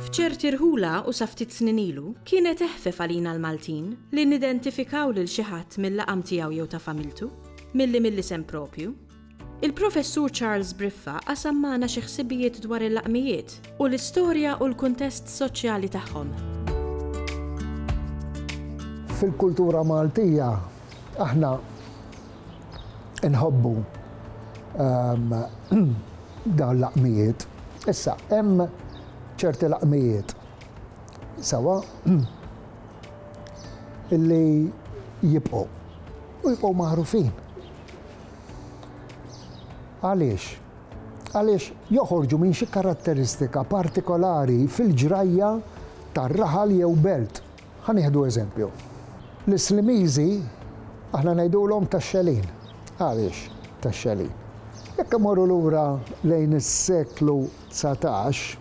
F'ċerti rħula u sa ftit snin ilu, kienet eħfef għalina l-Maltin li nidentifikaw lil xi ħadd mil-laqam tiegħu jew ta' familtu, milli mill-isem proprju. Il-Professur Charles Briffa qasam magħna xi ħsibijiet dwar il-laqmijiet u l-istorja u l-kuntest soċjali tagħhom. Fil-kultura Maltija aħna nħobbu ehm, dawn laqmijiet. Issa, hemm ċerti laqmijiet sawa illi jibqgħu u jibqgħu magħrufin. Għaliex? Għaliex joħorġu minn xi karatteristika partikolari fil-ġrajja ta' raħal jew belt. Ħa nieħdu eżempju. L-Islimiżi aħna ngħidulhom tax-xelin. Għaliex tax-xelin? Jekk imorru lura lejn is-seklu dsatax,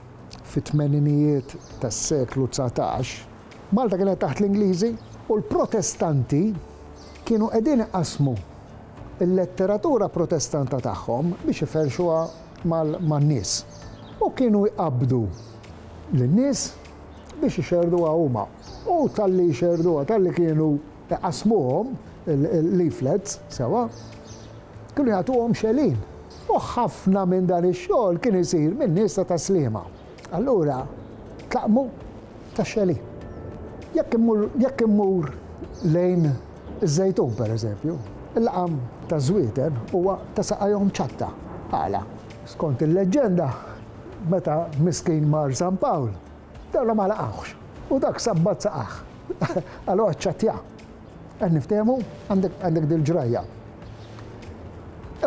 fit-tmeninijiet tas-seklu dsatax, Malta kienet taħt l-Ingliżi u l-Protestanti Kienu qegħdin iqassmu l-letteratura Protestanta tagħhom biex iferrxuha man-nies u kienu jqabbdu lin-nies biex ixerrduha huma. U talli jxerrduha, talli kienu iqassmuhom, il-leaflets, sewwa, kienu jagħtuhom xelin. U ħafna minn dan ix-xogħol kien isir min-nies ta' Tas-Sliema. Allura tlaqmu tax-xeli. Jekk immur, jekk immur lejn iż-Żejtun pereżempju, il-laqam taż-żwieten huwa ta' saqajhom ċatta. Għala? Skont il-leġġenda, meta miskin mar San Pawl, dawla ma laqgħuhx, u dak sabbat saqajh. Allura ċċattja. Qed niftehmu? Għandek, għandek dil-ġrajja.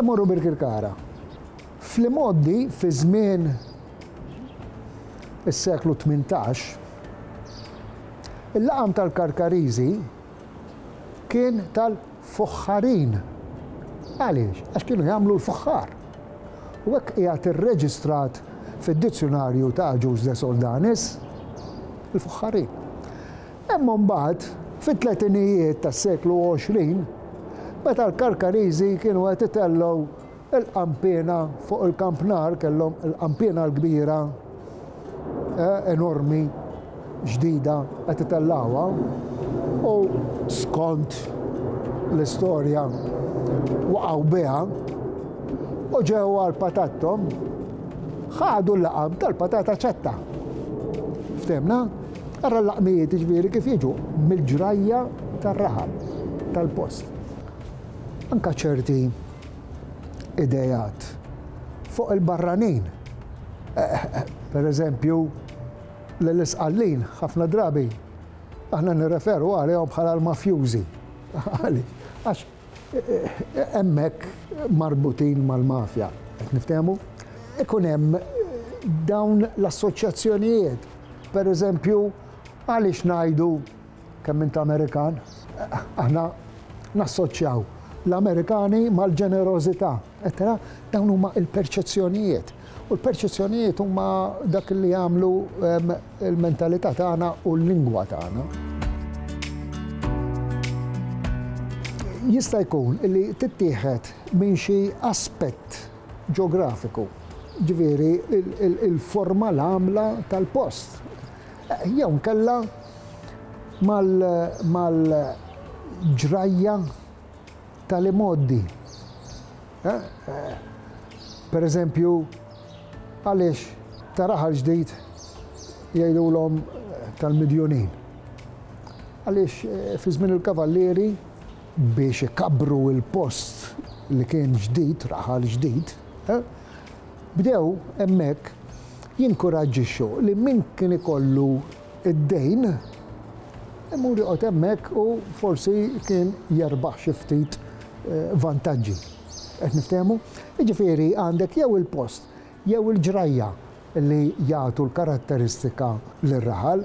Immorru Birkirkara. Fl-imgħoddi, fi żmien is-seklu tmintax, il-laqam tal-Karkariżi kien tal-fuħħarin. Għaliex? Għax kienu jagħmlu l-fuħħar. U hekk qiegħed irreġistrat fid-dizzjunarju ta' Agius de Soldanis, il-fuħħarin. Imma mbagħad, fit-tletinijiet tas-seklu 20, meta l-Karkariżi kienu qed itellgħu Il-qanpiena fuq il-Camp Nou kellhom il-qanpiena l-kbira enormi ġdida qed itellgħuha u skont l-istorja waqgħu biha u ġew għal patattom ħadu l-laqam tal-patata ċetta. Ftemna? Ara l-laqmijiet ġviri kif jiġu mill-ġrajja tar-raħal tal-post. Anka ċerti ideat fuq il-barranin. Per eżempju, l-isqallin ħafna drabi aħna nirreferu għalihom bħala l-mafjużi. Għax hemmhekk marbutin mal-mafja, qed niftehmu? Ikun hemm dawn l-assoċjazzjonijiet. Per eżempju, għaliex ngħidu Kemm int Amerikan? Aħna nassoċjaw l-Amerikani mal-ġenerożità, eċċetera. Dawn huma l-perċezzjonijiet. U l-perċezzjonijiet huma dak li jagħmlu ehm, l-mentalità tagħna u l-lingwa tagħna. jista' jkun li tittieħed minn xi aspett ġeografiku, ġifieri il-forma l-għamla tal-post. Jew inkella mal-ġrajja tal-imgħoddi. Per eżempju, għaliex ta' raħal ġdid jgħidulhom tal-Midjunin? Għaliex fi żmien il-kavallieri, biex ikabbru l-post li kien ġdid, raħal ġdid, Bdew hemmhekk jinkuraġġixxu li min kien ikollu d-dejn imur joqgħod hemmhekk u forsi kien jerbaħ xi ftit vantaġġi. Qed niftehmu? Jiġifieri għandek jew il-post jew il-ġrajja li jagħtu l-karatteristika lir-raħal.